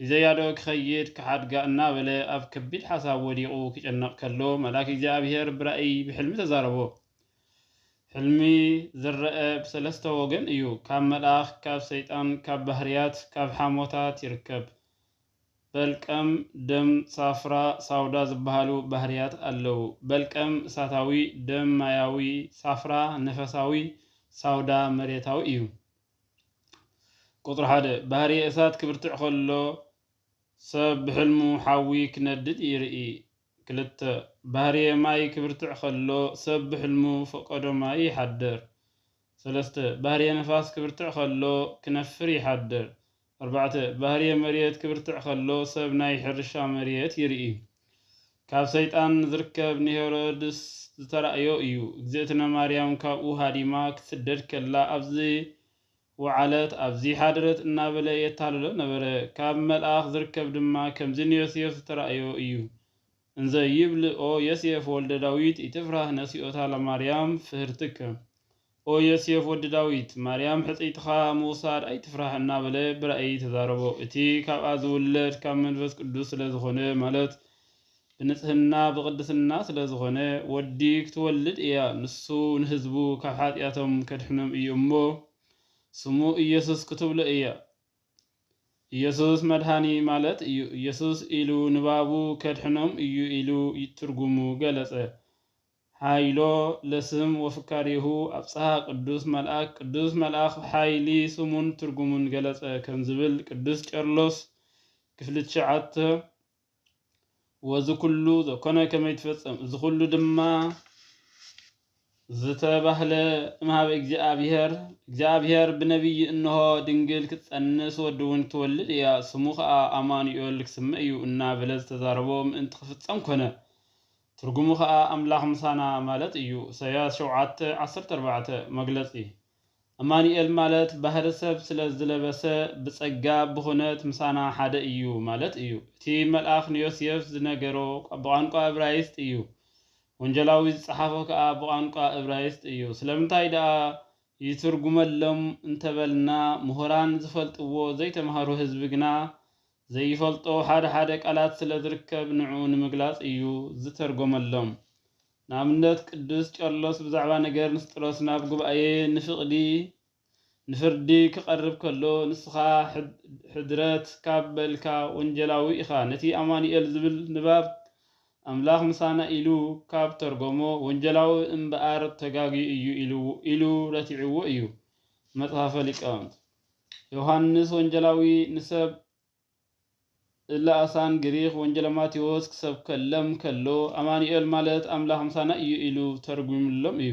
ሒዘያዶ ክኸይድ ክሓድጋ እናበለ ኣብ ከቢድ ሓሳብ ወዲቑ ክጭነቕ ከሎ መልኣክ እግዚኣብሄር ብራእይ ብሕልሚ ተዛረቦ። ሕልሚ ዝረኣ ብሰለስተ ወገን እዩ፣ ካብ መልኣኽ፣ ካብ ሰይጣን፣ ካብ ባህርያት፣ ካብ ሓሞታት ይርከብ። በልቀም፣ ደም፣ ሳፍራ፣ ሳውዳ ዝበሃሉ ባህርያት ኣለዉ። በልቀም እሳታዊ፣ ደም ማያዊ፣ ሳፍራ ነፈሳዊ፣ ሳውዳ መሬታዊ እዩ። ቁጽሪ ሓደ፣ ባህርየ እሳት ክብርትዕ ከሎ ሰብ ብሕልሙ ሓዊ ክነድድ ይርኢ። ክልተ፣ ባህርየ ማይ ክብርትዕ ከሎ ሰብ ብሕልሙ ፈቀዶ ማይ ይሓድር። ሰለስተ፣ ባህርየ ንፋስ ክብርትዕ ከሎ ክነፍር ይሓድር። ኣርባዕተ፣ ባህርየ መሬት ክብርትዕ ከሎ ሰብ ናይ ሕርሻ መሬት ይርኢ። ካብ ሰይጣን ዝርከብ ንሄሮድስ ዝተራእዮ እዩ። እግዝእትነ ማርያም ካብኡ ሃዲማ ክትስደድ ከላ ኣብዚ ወዓለት ኣብዚ ሓደረት እናበለ የታልሎ ነበረ። ካብ መልኣኽ ዝርከብ ድማ ከምዚ ንዮሴፍ ዝተራእዮ እዩ። እንዘ ይብል ኦ ዬሴፍ ወልደ ዳዊት ኢትፍራህ ነሲኦታ ለማርያም ፍህርትከ፣ ኦ ዬሴፍ ወዲ ዳዊት፣ ማርያም ሕጽይትኻ ምውሳድ ኣይትፍራህ እናበለ ብራእይ ተዛረቦ። እቲ ካብኣ ዝውለድ ካብ መንፈስ ቅዱስ ስለ ዝኾነ ማለት ብንጽህና ብቅድስና ስለ ዝኾነ ወዲ ክትወልድ እያ ንሱ ንህዝቡ ካብ ሓጢኣቶም ከድሕኖም እዩ እሞ ስሙ ኢየሱስ ክትብሎ እያ ኢየሱስ መድኃኒ ማለት እዩ ኢየሱስ ኢሉ ንባቡ ከድሕኖም እዩ ኢሉ ትርጉሙ ገለጸ። ኃይሎ ለስም ወፍካሬሁ ኣብጽሃ ቅዱስ መልኣክ ቅዱስ መልኣኽ ኃይሊ ስሙን ትርጉሙን ገለጸ ከም ዝብል ቅዱስ ቄርሎስ ክፍሊ ትሽዓተ ወዚ ኩሉ ዘኮነ ከመ ይትፈጸም እዚ ኩሉ ድማ ዝተባህለ እምሃበ እግዚኣብሔር እግዚኣብሔር ብነቢይ እንሆ ድንግል ክትጸንስ ወዲ እውን ክትወልድ እያ ስሙ ከኣ ኣማኑኤል ክስመ እዩ እናበለ ዝተዛረቦ ምእንቲ ክፍጸም ኮነ ትርጉሙ ከኣ ኣምላኽ ምሳና ማለት እዩ ኢሳይያስ ሸውዓተ ዓሰርተ ኣርባዕተ መግለጺ ኣማኑኤል ማለት ባህሪ ሰብ ስለ ዝለበሰ ብጸጋ ብኩነት ምሳና ሓደ እዩ ማለት እዩ። እቲ መልኣኽ ንዮስየፍ ዝነገሮ ብቛንቋ እብራይስጥ እዩ፣ ወንጀላዊ ዝጸሓፎ ከኣ ብቛንቋ እብራይስጥ እዩ። ስለምንታይ ደኣ ይትርጉመሎም እንተበልና ምሁራን ዝፈልጥዎ ዘይተማህሩ ህዝቢ ግና ዘይፈልጦ ሓደ ሓደ ቃላት ስለ ዝርከብ ንዕኡ ንምግላጽ እዩ ዝተርጎመሎም። ንኣብነት ቅዱስ ቄርሎስ ብዛዕባ ነገር ንስጥሮስ ናብ ጉባኤ ንፍቅዲ ንፍርዲ ክቀርብ ከሎ ንስኻ ሕድረት ካብ በልካ ወንጀላዊ ኢኻ ነቲ ኣማኑኤል ዝብል ንባብ ኣምላኽ ምሳና ኢሉ ካብ ተርጎሞ ወንጀላዊ እምብኣር ተጋግዩ እዩ ኢሉ ረቲዕዎ እዩ መጽሐፈ ሊቃውንት ዮሐንስ ወንጀላዊ ንሰብ እለኣሳን ግሪኽ ወንጀለ ማቴዎስ ክሰብከለም ከሎ ኣማኑኤል ማለት ኣምላኽ ምሳና እዩ ኢሉ ተርጉምሎም እዩ።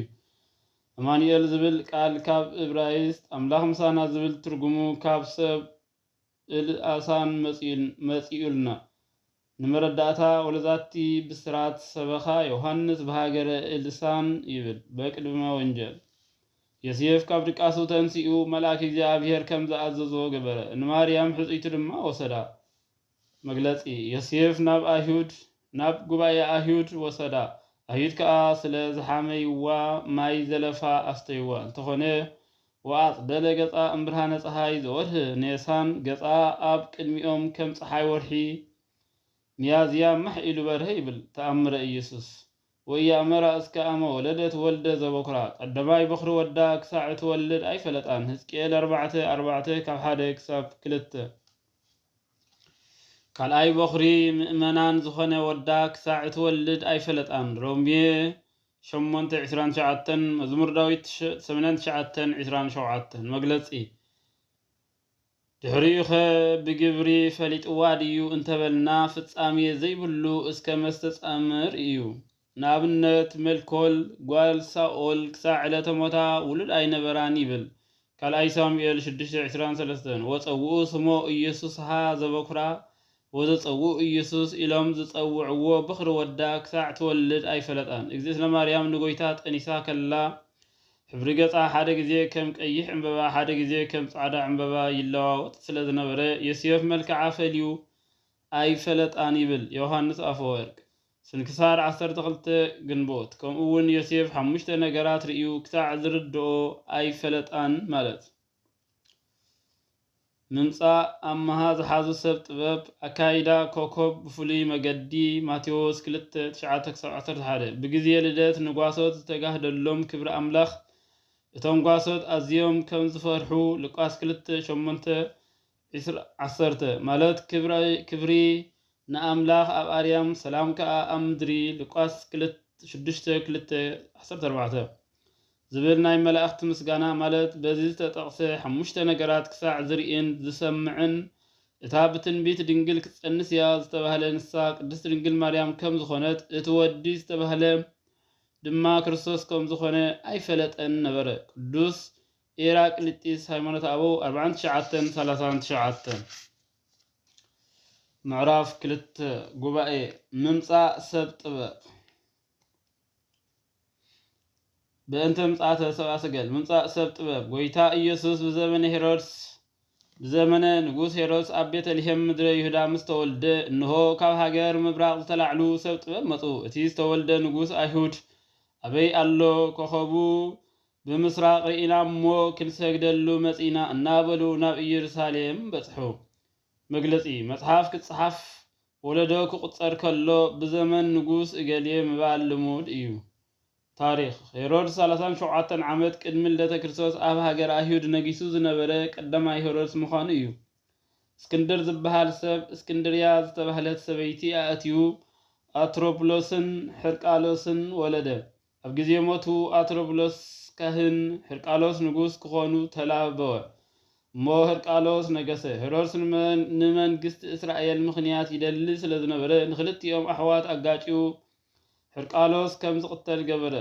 ኣማኑኤል ዝብል ቃል ካብ እብራይስጥ ኣምላኽ ምሳና ዝብል ትርጉሙ ካብ ሰብ እልኣሳን መጺኡልና። ንመረዳእታ ወለዛቲ ብስራት ሰበኻ ዮሃንስ ብሃገረ ኤልሳ ይብል በቅድመ ወንጀል የስየፍ ካብ ድቃሱ ተንሲኡ መልኣክ እግዚኣብሔር ከም ዝኣዘዞ ገበረ ንማርያም ሕጽይቱ ድማ ወሰዳ መግለጺ የስየፍ ናብ ኣይሁድ ናብ ጉባኤ ኣይሁድ ወሰዳ ኣይሁድ ከኣ ስለ ዝሓመይዋ ማይ ዘለፋ ኣስተይዋ እንተኾነ ወኣጽደለ ገጻ እምብርሃነ ጸሓይ ዘወርኅ ኔሳን ገጻ ኣብ ቅድሚኦም ከም ጸሓይ ወርሒ ሚያዝያ ማኅ ኢሉ በርሀ ይብል ተኣምረ ኢየሱስ። ወኢያእመራ እስከ ኣመ ወለደት ወልደ ዘበኵራ ቀደማይ በኵሪ ወዳ ክሳዕ እትወልድ ኣይፈለጣን ሕዝቅኤል ኣርባዕተ ኣርባዕተ ካብ ሓደ ክሳብ ክልተ። ካልኣይ በኵሪ ምእመናን ዝኾነ ወዳ ክሳዕ እትወልድ ኣይፈለጣን ሮሜ ሸሞንተ ዕስራን ትሽዓተን፣ መዝሙር ዳዊት ሰመንያን ትሽዓተን ዕስራን ሸውዓተን፣ መግለጺ ድሕሪኡኸ ብግብሪ ፈሊጥዋ ድዩ እንተበልና ፍጻሜ ዘይብሉ እስከ መስተጻምር ኢዩ። ንኣብነት ሜልኮል ጓል ሳኦል ክሳዕ ዕለተ ሞታ ውሉድ ኣይነበራን ይብል፣ ካልኣይ ሳሙኤል ሽዱሽተ ዕስራን ሰለስተን፣ ወጸውኡ ስሞ ኢየሱስሃ ዘበኵራ ወዘጸውኡ ኢየሱስ ኢሎም ዝጸውዕዎ ብኽሪ ወዳ ክሳዕ ትወልድ ኣይፈለጣን። እግዝእትነ ማርያም ንጎይታ ጠኒሳ ከላ ሕብሪ ገጻ ሓደ ግዜ ከም ቀይሕ ዕምበባ ሓደ ግዜ ከም ጻዕዳ ዕምበባ ይለዋወጥ ስለ ዝነበረ ዮስዮፍ መልክዓ ፈልዩ ኣይፈለጣን ይብል ዮውሃንስ ኣፈወርቅ ስንክሳር ዓሰርተ ክልተ ግንቦት ከምኡውን ዮሴፍ ሓሙሽተ ነገራት ርእዩ ክሳዕ ዝርድኦ ኣይፈለጣን ማለት ምምጻእ ኣምሃ ዝሓዙ ሰብ ጥበብ፣ ኣካይዳ ኮኾብ ብፍሉይ መገዲ፣ ማቴዎስ ክልተ፣ ትሽዓተ ክሳብ ዓሰርተ ሓደ፣ ብግዜ ልደት ንጓሶት ዝተጋህደሎም ክብሪ ኣምላኽ፣ እቶም ጓሶት ኣዝዮም ከም ዝፈርሑ፣ ሉቃስ ክልተ፣ ሸሞንተ፣ ዕስራ ዓሰርተ ማለት ክብሪ ንኣምላኽ ኣብ ኣርያም ሰላም ከኣ ኣብ ምድሪ ሉቃስ ሽዱሽተ ክልተ ዓሰርተ ኣርባዕተ ዝብል ናይ መላእኽቲ ምስጋና ማለት በዚ ዝተጠቕሰ ሓሙሽተ ነገራት ክሳዕ ዝርእን ዝሰምዕን እታ ብትንቢት ድንግል ክትጸንስ እያ ዝተባህለ ንሳ ቅድስት ድንግል ማርያም ከም ዝኾነት እቲ ወዲ ዝተባህለ ድማ ክርስቶስ ከም ዝኾነ ኣይፈለጠን ነበረ ቅዱስ ኤራ ቅሊጢስ ሃይማኖተ ኣበው ኣርብዓን ትሽዓተን ሰላሳን ትሽዓተን ምዕራፍ ክልተ ጉባኤ ምምጻእ ሰብ ጥበብ በእንተ ምጽኣተ ሰብኣ ሰገል ምምጻእ ሰብ ጥበብ ጎይታ ኢየሱስ ብዘመነ ሄሮድስ ብዘመነ ንጉስ ሄሮድስ ኣብ ቤተልሔም ምድረ ይሁዳ ምስ ተወልደ እንሆ ካብ ሃገር ምብራቕ ዝተላዕሉ ሰብ ጥበብ መጹ እቲ ዝተወልደ ንጉስ ኣይሁድ ኣበይ ኣሎ ኮኸቡ ብምስራቕ ርኢና እሞ ክንሰግደሉ መጺእና እናበሉ ናብ ኢየሩሳሌም በጽሑ። መግለጺ መጽሓፍ ክጸሓፍ ወለዶ ክቑጸር ከሎ ብዘመን ንጉስ እገሌ ምባል ልሙድ እዩ። ታሪኽ፣ ሄሮድስ ሰላሳን ሸውዓተን ዓመት ቅድሚ ልደተ ክርስቶስ ኣብ ሃገረ ኣይሁድ ነጊሱ ዝነበረ ቀዳማይ ሄሮድስ ምዃኑ እዩ። እስክንድር ዝበሃል ሰብ እስክንድርያ ዝተባህለት ሰበይቲ ኣእትዩ ኣትሮፕሎስን ሕርቃሎስን ወለደ። ኣብ ግዜ ሞቱ ኣትሮብሎስ ካህን ህርቃሎስ ንጉስ ክዀኑ ተላበወ። እሞ ህርቃሎስ ነገሰ። ሄሮድስ ንመንግስቲ እስራኤል ምኽንያት ይደሊ ስለ ዝነበረ ንኽልቲኦም ኣሕዋት ኣጋጭዩ ህርቃሎስ ከም ዝቕተል ገበረ።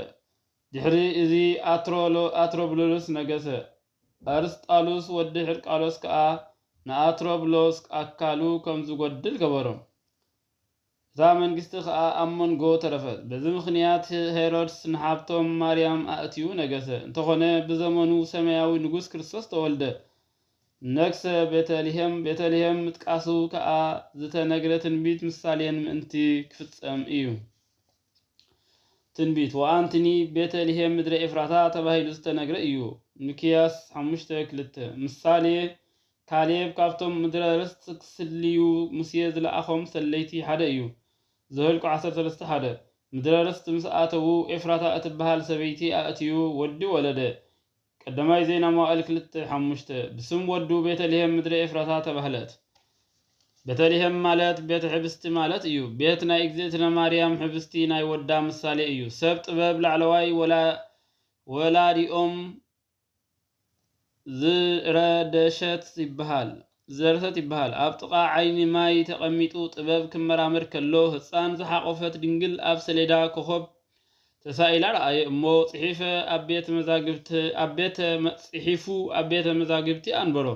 ድሕሪ እዚ ኣትሮብሎስ ነገሰ። ኣርስጣሉስ ወዲ ህርቃሎስ ከኣ ንኣትሮብሎስ ኣካሉ ከም ዝጐድል ገበሮ። እታ መንግስቲ ኸኣ ኣብ መንጎ ተረፈት። በዚ ምኽንያት ሄሮድስ ንሓብቶም ማርያም ኣእትዩ ነገሰ። እንተኾነ ብዘመኑ ሰማያዊ ንጉስ ክርስቶስ ተወልደ፣ ነግሰ፣ ቤተ ልሄም፣ ቤተ ልሄም ምጥቃሱ ከኣ ዝተነግረ ትንቢት ምሳሌን ምእንቲ ክፍጸም እዩ። ትንቢት ወኣንትኒ ቤተ ልሄም ምድረ ኤፍራታ ተባሂሉ ዝተነግረ እዩ፣ ሚክያስ ሓሙሽተ ክልተ። ምሳሌ ካሌብ ካብቶም ምድረ ርስት ክስልዩ ሙሴ ዝለኣኾም ሰለይቲ ሓደ እዩ። ዘኍልቍ ዓሰርተ ሰለስተ ሓደ፣ ምድረ ርስት ምስ ኣተዉ፣ ኤፍራታ እትበሃል ሰበይቲ ኣእትዩ ወዲ ወለደ። ቀዳማይ ዜና መዋዕል ክልተ ሓሙሽተ፣ ብስም ወዱ ቤተ ልሔም ምድረ ኤፍራታ ተባህለት። ቤተ ልሔም ማለት ቤተ ኅብስቲ ማለት እዩ። ቤት ናይ እግዝእትነ ማርያም ኅብስቲ ናይ ወዳ ምሳሌ እዩ። ሰብ ጥበብ ላዕለዋይ ወላዲኦም ዝረደሸት ይበሃል ዝደረሰት ይበሃል ኣብ ጥቓ ዓይኒ ማይ ተቐሚጡ ጥበብ ክመራመር ከሎ ህጻን ዝሓቖፈት ድንግል ኣብ ሰሌዳ ኮኾብ ተሳኢላ ረኣየ እሞ ጽሒፈ ኣብ ቤተ መዛግብቲ ኣብ ቤተ ጽሒፉ ኣብ ቤተ መዛግብቲ ኣንበሮ።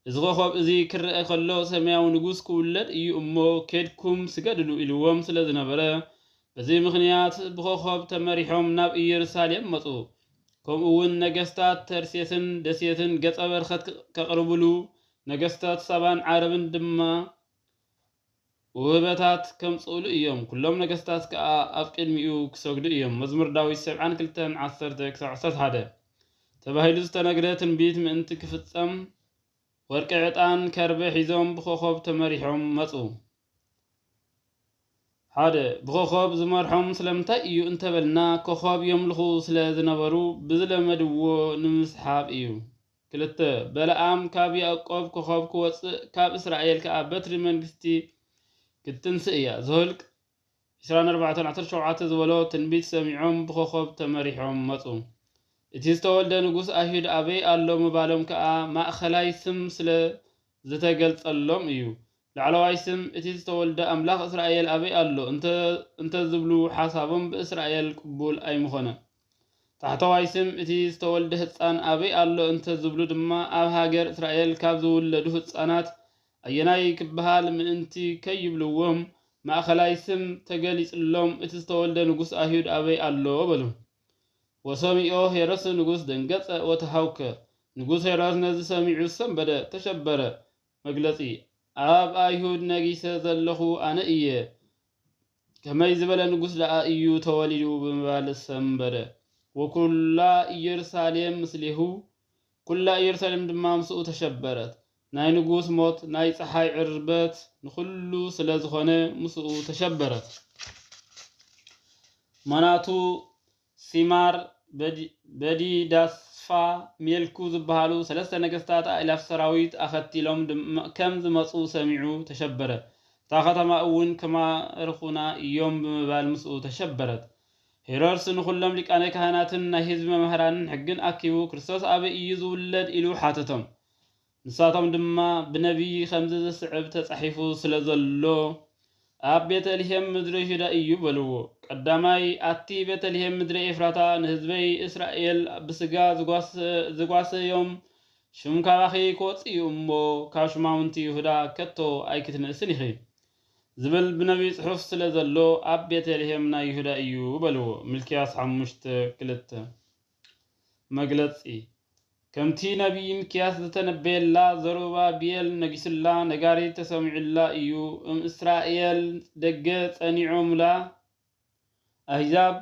እዚ ኾኾብ እዚ ክረኣ ከሎ ሰማያዊ ንጉስ ክውለድ እዩ እሞ ኬድኩም ስገድሉ ኢልዎም ስለ ዝነበረ፣ በዚ ምኽንያት ብኾኾብ ተመሪሖም ናብ ኢየሩሳሌም መጹ። ከምኡውን ነገስታት ተርሴስን ደሴትን ገጸ በርኸት ከቕርብሉ፣ ነገስታት ሳባን ዓረብን ድማ ውህበታት ከምጽኡሉ እዮም፣ ኵሎም ነገስታት ከኣ ኣብ ቅድሚኡ ኪሰግዱ እዮም። መዝሙር ዳዊት ሰብዓን ክልተን፣ ዓሰርተ ክሳብ ዓሰርተ ሓደ ተባሂሉ ዝተነግረ ትንቢት ምእንቲ ኪፍጸም፣ ወርቂ፣ ዕጣን፣ ከርበ ሒዞም ብኾኾብ ተመሪሖም መጹ። ሓደ፣ ብኾኾብ ዝመርሖም ስለምንታይ እዩ እንተበልና፣ ኮኾብ የምልኹ ስለ ዝነበሩ ብዝለመድዎ ንምስሓብ እዩ። ክልተ፣ በለዓም ካብ ያእቆብ ኮኾብ ክወጽእ ካብ እስራኤል ከኣ በትሪ መንግስቲ ክትትንስእ እያ። ዘኍልቍ ዕስራን ኣርባዕተን ዓሰርተ ሸውዓተ ዝበሎ ትንቢት ሰሚዖም ብኮኾብ ተመሪሖም መጹ። እቲ ዝተወልደ ንጉስ ኣይሁድ ኣበይ ኣሎ ምባሎም ከኣ ማእከላይ ስም ስለ ዝተገልጸሎም እዩ። ላዕለዋይ ስም እቲ ዝተወልደ ኣምላኽ እስራኤል ኣበይ ኣሎ እንተ እንተዝብሉ ሓሳቦም ብእስራኤል ቅቡል ኣይምኾነን። ታሕተዋይ ስም እቲ ዝተወልደ ህጻን ኣበይ ኣሎ እንተ ዝብሉ ድማ ኣብ ሃገር እስራኤል ካብ ዝውለዱ ህጻናት ኣየናይ ክበሃል ምእንቲ ከይብልዎም ማእከላይ ስም ተገሊጽሎም እቲ ዝተወልደ ንጉስ ኣይሁድ ኣበይ ኣሎ በሉ ወሰሚኦ ሄሮድስ ንጉስ ደንገጸ ወተሃውከ ንጉስ ሄሮድስ ነዚ ሰሚዑ ሰንበደ ተሸበረ መግለጺ ኣብ ኣይሁድ ነጊሰ ዘለኹ ኣነ እየ ከመይ ዝበለ ንጉሥ ደኣ እዩ ተወሊዱ ብምባል ሰምበደ። ወኩላ ኢየሩሳሌም ምስሌሁ፣ ኩላ ኢየሩሳሌም ድማ ምስኡ ተሸበረት። ናይ ንጉሥ ሞት ናይ ፀሓይ ዕርበት ንኹሉ ስለ ዝኾነ ምስኡ ተሸበረት። ምክንያቱ ሲማር፣ በዲዳስፋ፣ ሜልኩ ዝበሃሉ ሰለስተ ነገስታት ኣእላፍ ሰራዊት ኣኸቲሎም ከም ዝመጹ ሰሚዑ ተሸበረ። እታ ኸተማ እውን ክማርኹና ኢዮም ብምባል ምስኡ ተሸበረት። ሄሮድስ ንዅሎም ሊቃነ ካህናትን ናይ ህዝቢ መማህራንን ሕግን ኣኪቡ ክርስቶስ ኣበይ ኢዩ ዝውለድ ኢሉ ሓተቶም። ንሳቶም ድማ ብነብዪ ኸምዚ ዚስዕብ ተጻሒፉ ስለ ዘሎ፣ ኣብ ቤተ ልሄም ምድሪ ይሁዳ እዩ በልዎ። ቀዳማይ፣ ኣቲ ቤተ ልሄም ምድሪ ኤፍራታ፣ ንህዝበይ እስራኤል ብስጋ ዝጓሰዮም ሹም ካባኺ ኪወጽእ እዩ እሞ፣ ካብ ሹማምንቲ ይሁዳ ከቶ ኣይክትንእስን ኢኺ ዚብል ብነብዪ ጽሑፍ ስለ ዘሎ፣ ኣብ ቤተ ልሄም ናይ ይሁዳ እዩ በልዎ። ሚልክያስ ሓሙሽተ ክልተ። መግለጺ ከምቲ ነቢይ ሚክያስ ዝተነበየላ ዘሩባቤል ነጊሱላ ነጋሪት ተሰሚዑላ እዩ እም እስራኤል ደገ ጸኒዖምላ ኣህዛብ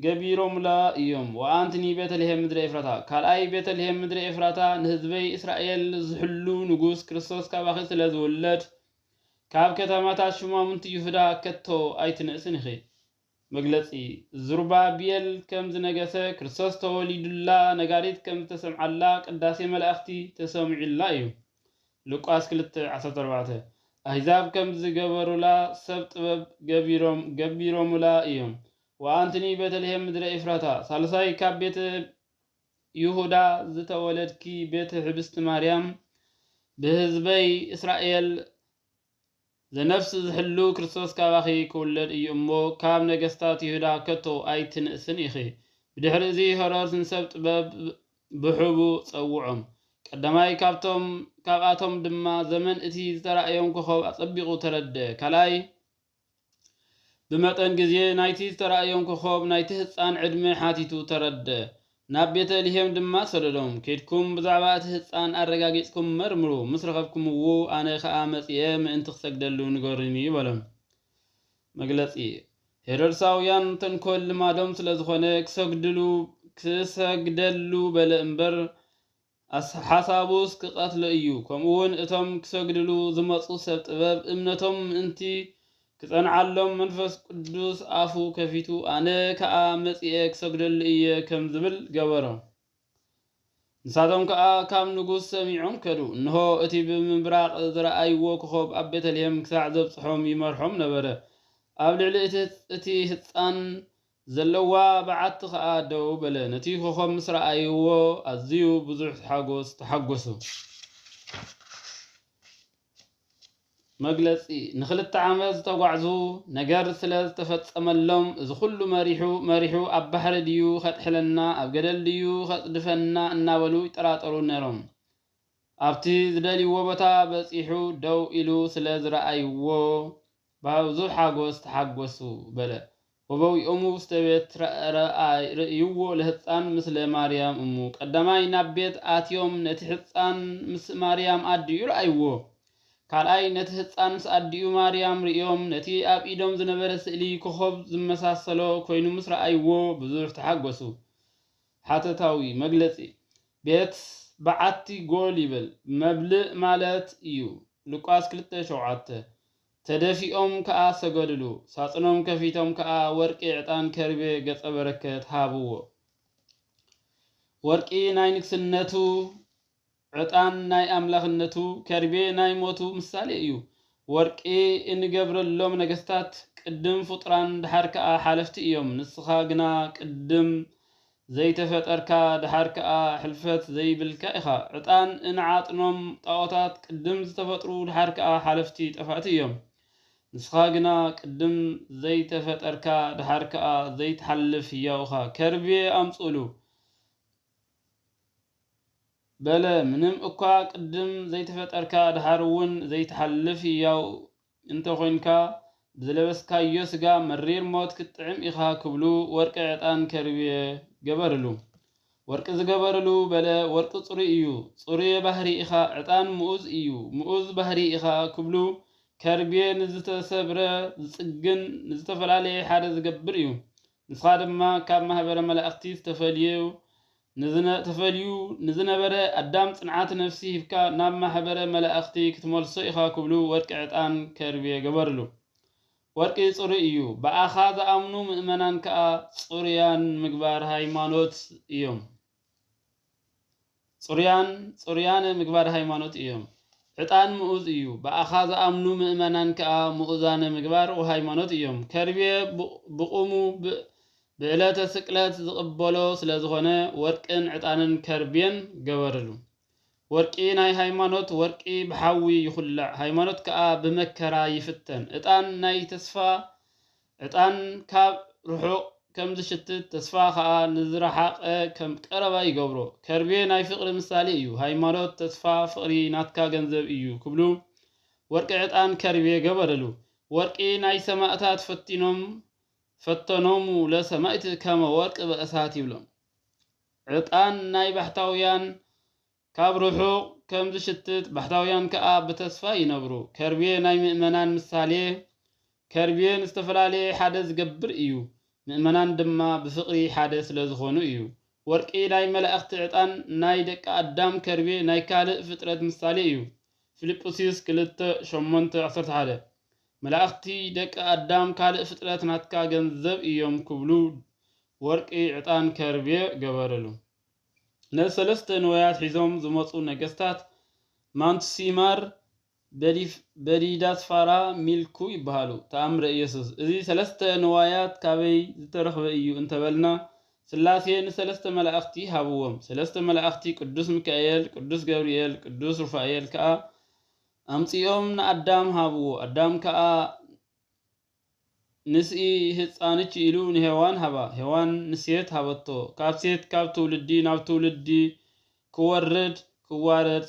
ገቢሮምላ እዮም ወኣንትኒ ቤተልሔም ምድረ ኤፍራታ ካልኣይ ቤተልሔም ምድረ ኤፍራታ ንህዝበይ እስራኤል ዝሕሉ ንጉስ ክርስቶስ ካባኺ ስለ ዝውለድ ካብ ከተማታት ሹማምንቲ ይሁዳ ከቶ ኣይትንእስን ኢኺ መግለጺ ዙርባቤል ከም ዝነገሰ፣ ክርስቶስ ተወሊዱላ፣ ነጋሪት ከም ዝተሰምዓላ፣ ቅዳሴ መላእኽቲ ተሰሚዑላ እዩ። ሉቃስ ክልተ ዓሰርተ ኣርባዕተ፣ ኣሕዛብ ከም ዝገበሩላ፣ ሰብ ጥበብ ገቢሮም ገቢሮሙላ እዮም። ወኣንትኒ ቤተልሔም ምድረ ኤፍራታ፣ ሳልሳይ ካብ ቤተ ይሁዳ ዝተወለድኪ ቤት ሕብስቲ ማርያም፣ ብህዝበይ እስራኤል ዘነፍስ ዝሕሉ ክርስቶስ ካባኺ ክውለድ እዩ እሞ ካብ ነገስታት ይሁዳ ከቶ ኣይትንእስን ኢኺ። ብድሕሪ እዚ ሄሮድስ ንሰብ ጥበብ ብሕቡ ጸውዖም። ቀዳማይ ካብቶም ካብኣቶም ድማ ዘመን እቲ ዝተራእዮም ኮኾብ ኣጸቢቑ ተረድእ። ካልኣይ። ብመጠን ግዜ ናይቲ ዝተራእዮም ኮኾብ ናይቲ ህጻን ዕድመ ሓቲቱ ተረደ። ናብ ቤተ ልሄም ድማ ሰደዶም። ኬድኩም ብዛዕባ እቲ ህጻን ኣረጋጊጽኩም መርምሩ፣ ምስ ረኸብኩምዉ ኣነ ኸኣ መጺኤ ምእንቲ ክሰግደሉ ንገሩኒ በሎም። መግለጺ ሄሮድሳውያን ተንኮል ልማዶም ስለ ዝኾነ ክሰግድሉ ክሰግደሉ በለ እምበር ኣስ ሓሳቡስ ክቀትሎ እዩ ከምኡውን እቶም ክሰግድሉ ዝመጹ ሰብ ጥበብ እምነቶም ምእንቲ ክጸንዓሎም መንፈስ ቅዱስ ኣፉ ከፊቱ ኣነ ከኣ መጺኤ ክሰግደሉ እየ ከም ዝብል ገበሮ ንሳቶም ከኣ ካብ ንጉስ ሰሚዖም ከዱ እንሆ እቲ ብምብራቅ ዝረኣይዎ ኮኾብ ኣብ ቤተልሔም ክሳዕ ዘብጽሖም ይመርሖም ነበረ ኣብ ልዕሊ እቲ እቲ ህጻን ዘለዋ በዓቲ ከኣ ደው በለ። ነቲ ኮኾብ ምስ ረኣይዎ ኣዝዩ ብዙሕ ሓጎስ ተሓጎሱ። መግለጺ ንኽልተ ዓመት ዝተጓዕዙ ነገር ስለ ዝተፈጸመሎም እዚ ኩሉ መሪሑ መሪሑ ኣብ ባሕሪ ድዩ ከጥሕለና ኣብ ገደል ድዩ ከጽድፈና እናበሉ ይጠራጠሩ ነይሮም። ኣብቲ ዝደልይዎ ቦታ በጺሑ ደው ኢሉ ስለ ዝረኣይዎ ብብዙሕ ሓጐስ ተሓጐሱ በለ። ወበዊኦሙ ውስተ ቤት ርእይዎ ለህጻን ምስለ ማርያም እሙ። ቀዳማይ ናብ ቤት ኣትዮም ነቲ ሕጻን ምስ ማርያም ኣዲኡ ረኣይዎ። ካልኣይ ነቲ ህጻን ምስ ኣዲኡ ማርያም ርእዮም ነቲ ኣብ ኢዶም ዝነበረ ስእሊ ኮኾብ ዝመሳሰሎ ኮይኑ ምስ ረኣይዎ ብዙሕ ተሓጐሱ። ሓተታዊ መግለጺ ቤት በዓቲ ጎል ይብል መብልእ ማለት እዩ፣ ሉቃስ ክልተ ሸውዓተ። ተደፊኦም ከኣ ሰገዱሉ። ሳጽኖም ከፊቶም ከኣ ወርቂ ዕጣን ከርቤ ገጸ በረከት ሃብዎ። ወርቂ ናይ ንግስነቱ ዕጣን ናይ ኣምላኽነቱ ከርቤ ናይ ሞቱ ምሳሌ እዩ። ወርቂ እንገብረሎም ነገስታት ቅድም ፍጡራን ደሓር ከኣ ሓለፍቲ እዮም ንስኻ ግና ቅድም ዘይተፈጠርካ ደሓር ከኣ ሕልፈት ዘይብልካ ኢኻ። ዕጣን እንዓጥኖም ጣኦታት ቅድም ዝተፈጥሩ ደሓር ከኣ ሓለፍቲ ጠፋእቲ እዮም። ንስኻ ግና ቅድም ዘይተፈጠርካ ደሓር ከኣ ዘይትሓልፍ ህያው እኻ። ከርቤ ኣምጽእሉ። በለ ምንም እኳ ቅድም ዘይተፈጠርካ ደሓር እውን ዘይትሓልፍ ህያው እንተ ኾይንካ ብዝለበስካዮ ስጋ መሪር ሞት ክትጥዕም ኢኻ ክብሉ ወርቂ ዕጣን ከርብየ ገበርሉ። ወርቂ ዝገበርሉ በለ ወርቂ ጽሩይ እዩ ጽሩየ ባህሪ ኢኻ ዕጣን ምኡዝ እዩ ምኡዝ ባህሪ ኢኻ ክብሉ ከርብየ ንዝተሰብረ ዝጽግን ንዝተፈላለየ ሓደ ዝገብር እዩ ንስኻ ድማ ካብ ማህበረ መላእኽቲ ዝተፈልዩ ንዝነ ተፈልዩ ንዝነበረ ኣዳም ጽንዓት ነፍሲ ሂብካ ናብ ማኅበረ መላእኽቲ ክትመልሶ ኢኻ ክብሉ ወርቂ ዕጣን ከርቤ ገበርሉ። ወርቂ ጽሩይ እዩ፣ ብኣኻ ዝኣምኑ ምእመናን ከኣ ጽሩያን ምግባር ሃይማኖት እዮም። ጽሩያን፣ ጽሩያነ ምግባር ሃይማኖት እዮም። ዕጣን ምኡዝ እዩ፣ ብኣኻ ዝኣምኑ ምእመናን ከኣ ምኡዛነ ምግባር ወሃይማኖት እዮም። ከርቤ ብቑሙ ብዕለተ ስቅለት ዝቕበሎ ስለ ዝኾነ ወርቅን ዕጣንን ከርቤን ገበርሉ። ወርቂ ናይ ሃይማኖት ወርቂ ብሓዊ ይኹላዕ፣ ሃይማኖት ከኣ ብመከራ ይፍተን። ዕጣን ናይ ተስፋ ዕጣን ካብ ርሑቕ ከም ዝሽትት ተስፋ ከኣ ንዝረሓቐ ከም ቀረባ ይገብሮ። ከርቤ ናይ ፍቕሪ ምሳሌ እዩ፣ ሃይማኖት፣ ተስፋ፣ ፍቕሪ ናትካ ገንዘብ እዩ ክብሉ ወርቂ ዕጣን ከርቤ ገበርሉ። ወርቂ ናይ ሰማእታት ፈቲኖም ፈተኖሙ ለሰማእት ከመ ወርቅ በእሳት ይብሎም። ዕጣን ናይ ባሕታውያን ካብ ርሑቕ ከም ዝሽትት ባሕታውያን ከኣ ብተስፋ ይነብሩ። ከርቤ ናይ ምእመናን ምሳሌ ከርቤ ንዝተፈላለየ ሓደ ዝገብር እዩ፣ ምእመናን ድማ ብፍቕሪ ሓደ ስለ ዝኾኑ እዩ። ወርቂ ናይ መላእኽቲ ዕጣን ናይ ደቂ ኣዳም ከርቤ ናይ ካልእ ፍጥረት ምሳሌ እዩ፣ ፊልጵስዩስ ክልተ ሸሞንተ ዓሰርተ ሓደ። መላእክቲ ደቂ ኣዳም ካልእ ፍጥረት ናትካ ገንዘብ እዮም ክብሉ ወርቂ ዕጣን ከርቤ ገበርሉ። ነዚ ሰለስተ ንዋያት ሒዞም ዝመጹ ነገስታት ማንቱሲማር፣ በዲዳስፋራ፣ ሚልኩ ይበሃሉ። ተኣምረ ኢየሱስ እዚ ሰለስተ ንዋያት ካበይ ዝተረኽበ እዩ እንተበልና ስላሴ ንሰለስተ መላእክቲ ሃብዎም። ሰለስተ መላእክቲ ቅዱስ ሚካኤል፣ ቅዱስ ገብርኤል፣ ቅዱስ ሩፋኤል ከኣ ኣምጺኦም ንኣዳም ሃብዎ ኣዳም ከኣ ንስኢ ህጻንች ኢሉ ንሄዋን ሃባ ሄዋን ንሴት ሃበቶ ካብ ሴት ካብ ትውልዲ ናብ ትውልዲ ክወርድ ክዋረድ